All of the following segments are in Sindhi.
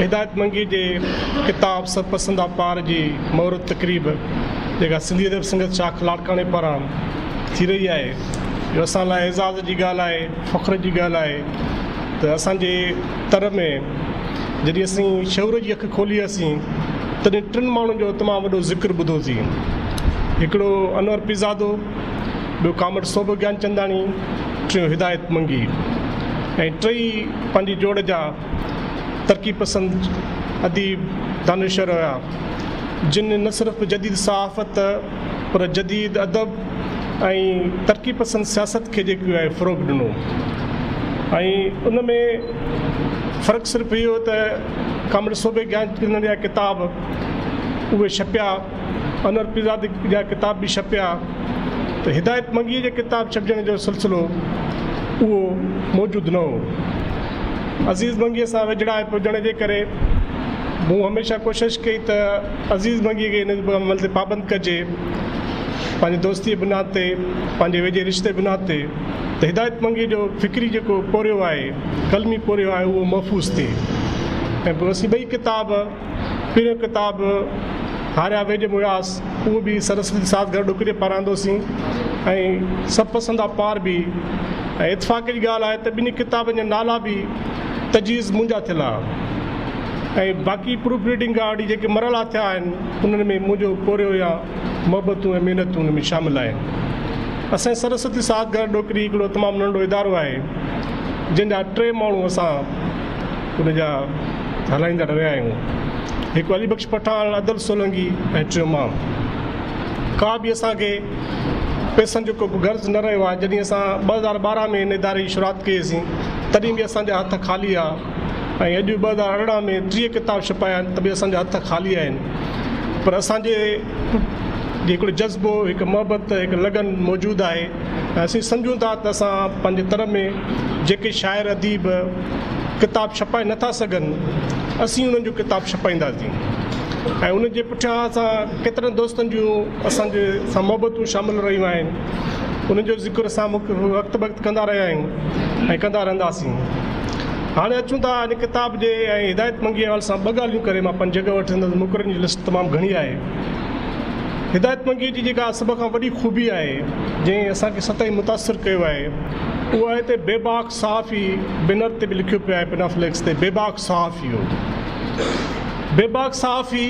هدايت منگي جي ڪتاب سرپسند آپار جي مهورت تقريب جيڪا سنڌي ادب سنگت شاخ لاڙڪاڻي پاران ٿي رهي آهي جو اسان لاء اعزاز جي ڳالهه آهي فخر جي ڳالهه آهي ته اسانجي تر ۾، جڏهن اسين شعور جي اک کولي هئاسين، تڏهن ٽن ماڻهن جو تمام وڏو ذڪر ٻڌو سين. هڪڙو انور پيرزادو، ٻيو ڪامريڊ صوڀ گيانچنداڻي، ٽيون هدايت منگي ۽ ٽئي پنهنجي جوڙ جا ترقي پسند اديب، دانشور هيا، جن نه صرف جديد صحافت، پر جديد ادب ۽ ترقي پسند سياست کي جيڪو آهي فروغ ڏنو ۽ ان ۾ فرق صرف اهو هو ته ڪامريڊ صوبي گيان چندن جا ڪتاب اهي ڇپيا انور پيرزاد جا ڪتاب به ڇپيا ته هدايت منگي جا ڪتاب ڇپجڻ جو سلسلو اهو موجود نه هو عزيز منگي سان ويجهڙائپ هجڻ جي ڪري مون هميشه ڪوشش ڪئي ته عزيز منگيء کي ان عمل تي پابند ڪجي، پنهنجي دوستيء جي بنياد تي، پنهنجي ويجهي رشتي جي بنياد تي ته هدايت منگيء جو فڪري جيڪو پورهيو آهي، قلمي پورهيو آهي اهو محفوظ ٿئي ۽ پوء اسين ٻئي ڪتاب، پهريون ڪتاب هاريا ويڄ مڙهاس، اهو به سرسوتي ساز گهر ڏوڪري پاران آندوسين ۽ سڀ پسندا پار به ۽ اتفاق جي ڳالهه آهي ته ٻنهي ڪتابن جا نالا به تجويز منهنجا ٿيل آهن. ۽ باقي پروف ريڊنگ کان اڳ جيڪي مرحلا ٿيا آهن انهن ۾ منهنجو پورهيو يا محبتون ۽ محنتون ان ۾ شامل آهن. اسان سرسوتي ساهت گهر ڏوڪري هڪڙو تمام ننڍڙو ادارو آهي جنهن جا ٽي ماڻهو اسان ان جا هلائيندا رهيا آهيون هڪ علي بخش پٺاڻ ادل سولنگي ۽ ٽيون مان ڪا به اسان کي پيسن جو ڪو غرض نه رهيو آهي جڏهن اسان ٻه هزار ٻارهن ۾ ان اداري جي شروعات ڪئي سين تڏهن به اسان جا هٿ خالي آ ۽ اڄ ٻه هزار ارڙهن ۾ ٽيهه ڪتاب ڇپايا آهن ته به اسان جا هٿ خالي آهن پر اسان جي هڪڙو جذبو هڪ محبت هڪ لگن موجود آهي ۽ اسين سمجهون ٿا ته اسان پنهنجي تر ۾ جيڪي شاعر اديب ڪتاب ڇپائي نٿا سگهن اسين انهن جو ڪتاب ڇپائينداسين ۽ ان جي پٺيان اسان ڪيترن دوستن جون اسان جي سان محبتون شامل رهيون آهن انهن جو ذڪر اسان وقت بقت ڪندا رهيا آهيون ۽ ڪندا رهنداسين هاڻي اچون ٿا هن ڪتاب جي ۽ هدايت منگي ايوال سان ٻه ڳالهيون ڪري مان پنهنجي جڳهه وٺندس ته مقررين جي لسٽ تمام گهڻي آهي. هدايت منگي جي جيڪا سڀ کان وڏي خوبي آهي جنهن اسان کي سدائين متاثر ڪيو آهي اهو آهي ته بيباڪ صحافي بينر تي به لکيو پيو آهي پنا فليڪس تي بيباڪ صحافي هو بيباڪ صحافي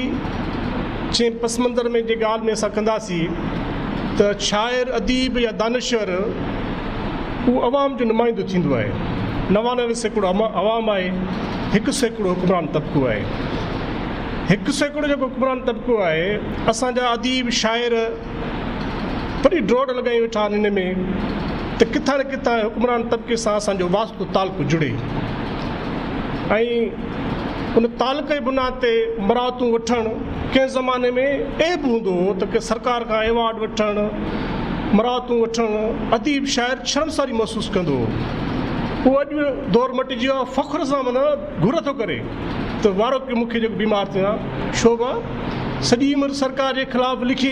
چين پس منظر ۾ جي ڳالهه ۾ اسان ڪنداسين ته شاعر اديب يا دانشور اهو عوام جو نمائندو ٿيندو آهي، نوانوي سيڪڙو عوام آهي، هڪ سيڪڙو حڪمران طبقو آهي. هڪ سيڪڙو جيڪو حڪمران طبقو آهي، اسان جا اديب، شاعر وڏي ڊوڙ لڳائي ويٺا آهن ان ۾ ته ڪٿان نه ڪٿان حڪمران طبقي سان اسان جو واسطو تعلقو جڙي ۽ ان تعلقه جي بنا تي مراعتون وٺڻ ڪنهن زماني ۾ عيب هوندو هو ته ڪنهن سرڪار کان ايوارڊ وٺڻ، مراعتون وٺڻ اديب شاعر شرمساري محسوس ڪندو هو. اهو اڄ به دور مٽجي ويو آهي. فخر سان منا گهر ٿو ڪري ته وارو ڪيو مون کي جيڪو بيمار ٿيو آهيان شوڀا. سڄي عمر سرڪار جي خلاف لکي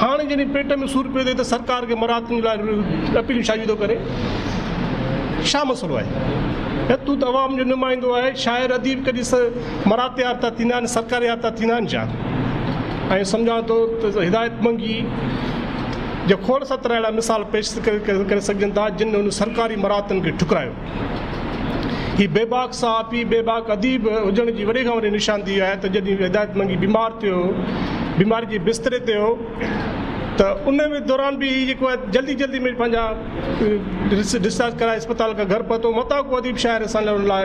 هاڻي جڏهن پيٽ ۾ سور پيو ٿئي ته سرڪار کي مراعتن لاء اپيلون ڇا جي ٿو ڪري؟ ڇا مسئلو آهي؟ ۽ تون ته عوام جو نمائندو آهي، شاعر اديب ڪڏهن مراعت يار ٿا ٿيندا آهن سرڪار يار ٿا ٿيندا آهن ڇا؟ ائين سمجهان ٿو ته هدايت منگي جا کوڙ ستر اهڙا مثال پيش ڪري سگهجن ٿا جن هن سرڪاري مراعتن کي ٺڪرايو. هي بيباڪ صحافي، بيباڪ اديب هجڻ جي وڏي کان وڏي نشاندهي آهي ته جڏهن هدايت منگي بيمار ٿيو، بيماري جي بستري تي هو ته ان دوران به هي جيڪو آهي جلدي جلدي ۾ پنهنجا ڊسچارج ڪرائي اسپتال کان گهر پهتو، متان ڪو اديب شاعر اسان لڙ لاء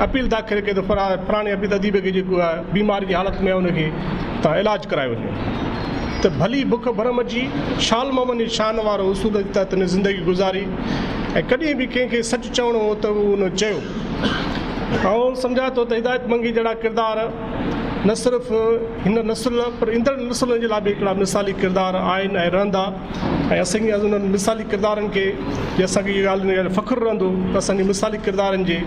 اپيل داخل ڪئي ته فراڻي اديب کي جيڪو آهي بيماري جي حالت ۾ آهي ان کي توهان علاج ڪرائي وڃو ته ڀلي بک ڀرم جي شال محمد جي شان وارو اصول جي تحت هن زندگي گذاري. ۽ ڪڏهن به ڪنهن کي سچ چوڻو هو ته هو ان چيو. آئون سمجهان ٿو ته هدايت منگي جهڙا ڪردار نه صرف هن نسل پر ايندڙ نسلن جي لاء به هڪڙا مثالي ڪردار آهن ۽ رهندا ۽ اسان کي انهن مثالي ڪردارن کي جي اسان کي اها ڳالهه فخر رهندو ته اسان جي مثالي ڪردارن جي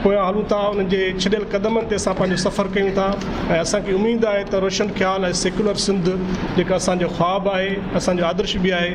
پويان هلون ٿا انهن جي ڇڏيل قدمن تي اسان پنهنجو سفر ڪيون ٿا ۽ اسان کي اميد آهي ته روشن خيال ۽ سيڪولر سنڌ جيڪا اسان جو خواب آهي اسان جو آدرش به آهي